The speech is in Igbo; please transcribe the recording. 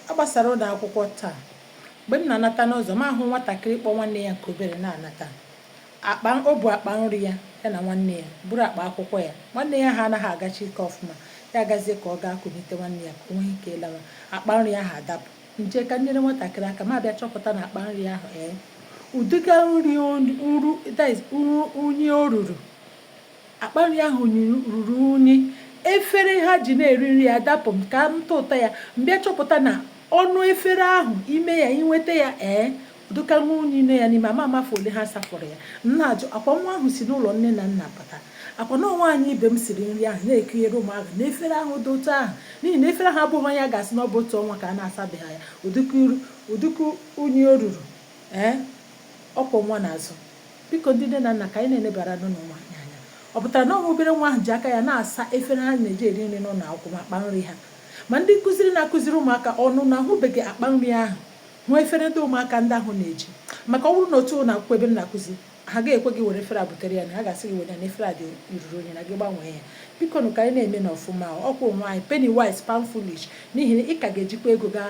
A gbasara ụlọ akwụkwọ taa. Mgbe m na-anata n'ụzọ, m ahụ nwatakịrị kpọ nwanne ya nke obere na-anata. O bu akpa nri ya, ya na nwanne ya, buru akpa akwụkwọ ya. Nwanne ya ahụ anaghị agachi ike ọfụma, ya agazie ka ọ gaa kunite nwanne ya ka o nwee ike ịlawa. Akpa nri ahụ adapụ. M jee ka m nyere nwatakịrị aka, m abịa chọpụta na akpa nri ahụ ee. Ụdịka nri nru, that is, unyi o ruru Akpa nri ahụ ruru unyi. Efere ha ji na-eri nri adapụ m ka m tụta ya, m bịa chọpụta na ọnụ efere ahụ, ime ya, i weta ya ee, ụdịka unyi nọ ya n'ime, ama m afọ ole ha safọrọ ya. M na-ajụ, akwa nwa ahụ si n'ụlọ nne na nna pụta? Akwa na ọ nwaanyị ibe m siri nri ahụ na-ekunyere ụmụaka na efere ahụ dị otu ahụ? N'ihi na efere ahụ abụghị ihe a ga-asị na ọ bụ otu ọnwa ka a na-asabeghị ya, ụdịka unyi o ruru ee, ọ kwọ nwa n'azụ. Biko ndị nne na nna ka anyị na-enebara nụnụ ụmụ anyị anya. Ọ pụtara na ọ nwa obere nwa ahụ ji aka ya na-asa efere ha na-eji eri nri n'ụlọ akwụkwọ ma akpa nri ha. Ma ndị nkụziri na-akụziri ụmụaka ọnụ na ahụbeghị akpa nri ahụ, hụ efere ndị ụmụaka ndị ahụ na-eji. Maka ọ bụrụ na otu ụlọ akwụkwọ ebe m na-akụzi, ha agaghị ekwe gị were efere a butere ya na ha ga-asị gị were ya na efere a dị ruru unyi na gị gbanwee ya. Biko nụ ka anyị na-emenụ ọfụma ọkwa onwe anyị penny wise pound foolish n'ihi na ị ka ga-ejikwa ego gaa